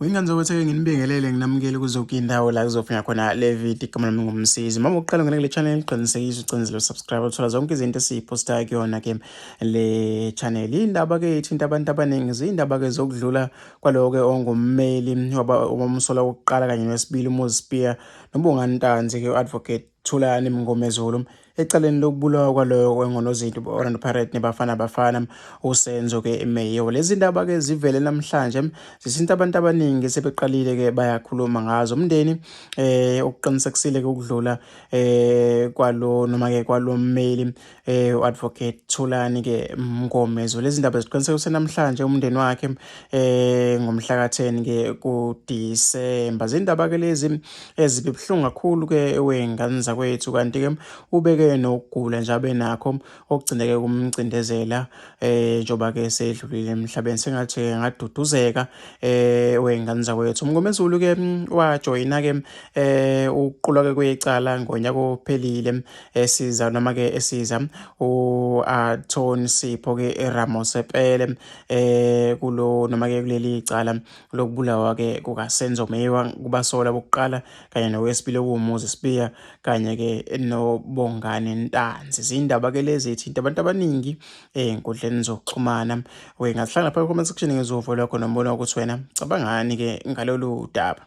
Wengane zokwetheke nginibingelele nginamukele kuzo zonke indawo la kuzofika khona le video igama lami ngumsizi. Uma uqala ngene kule channel ngiqinisekise ucindezelo subscribe uthola zonke izinto esiyipostayo kuyona ke le channel. Indaba ke ithinta abantu abaningi zindaba ke zokudlula kwalowo ke ongummeli waba umsola wokuqala kanye nowesibili uMoses Spear noBongani Ntanzi ke advocate Thulani Mngomezulu ecaleni lokubulawa kwaloyo wengonozinti be-orlando pirate nebafana bafana usenzo ke emeyiwe lezi ndaba ke zivele namhlanje zisinta abantu abaningi sebeqalile ke bayakhuluma ngazo umndeni eh ukuqinisekisile ke ukudlula eh kwalo noma ke kwalommeli eh uadvocate Thulani ke Mngomezo lezi ndaba ziqiniseka usenamhlanje umndeni wakhe eh ngomhla ka10 ke ku December zindaba ke lezi ezibe buhlungu kakhulu ke wengane zakwethu kanti ke ubeke nokugula nje abenakho okugcineke kumcindezela eh njoba ke sedlulile emhlabeni sengathi ngaduduzeka eh wengane zakwethu Mngomezulu ke wajoyina ke eh uqulwa ke kwecala ngonyaka ophelile esiza noma ke esiza uAton Sipho ke eRamosepele eh kulo noma ke kuleli icala lokubulawa ke kukaSenzo Meyiwa kubasola bokuqala kanye nowesibili okuwumuzi Sibiya kanye ke noBongani Ntanzi izindaba ke lezi ithinta abantu abaningi ezinkundleni zokuxhumana we ngasihlangana phakathi comment section ngizovula khona umbono ukuthi wena cabangani ke ngalolu daba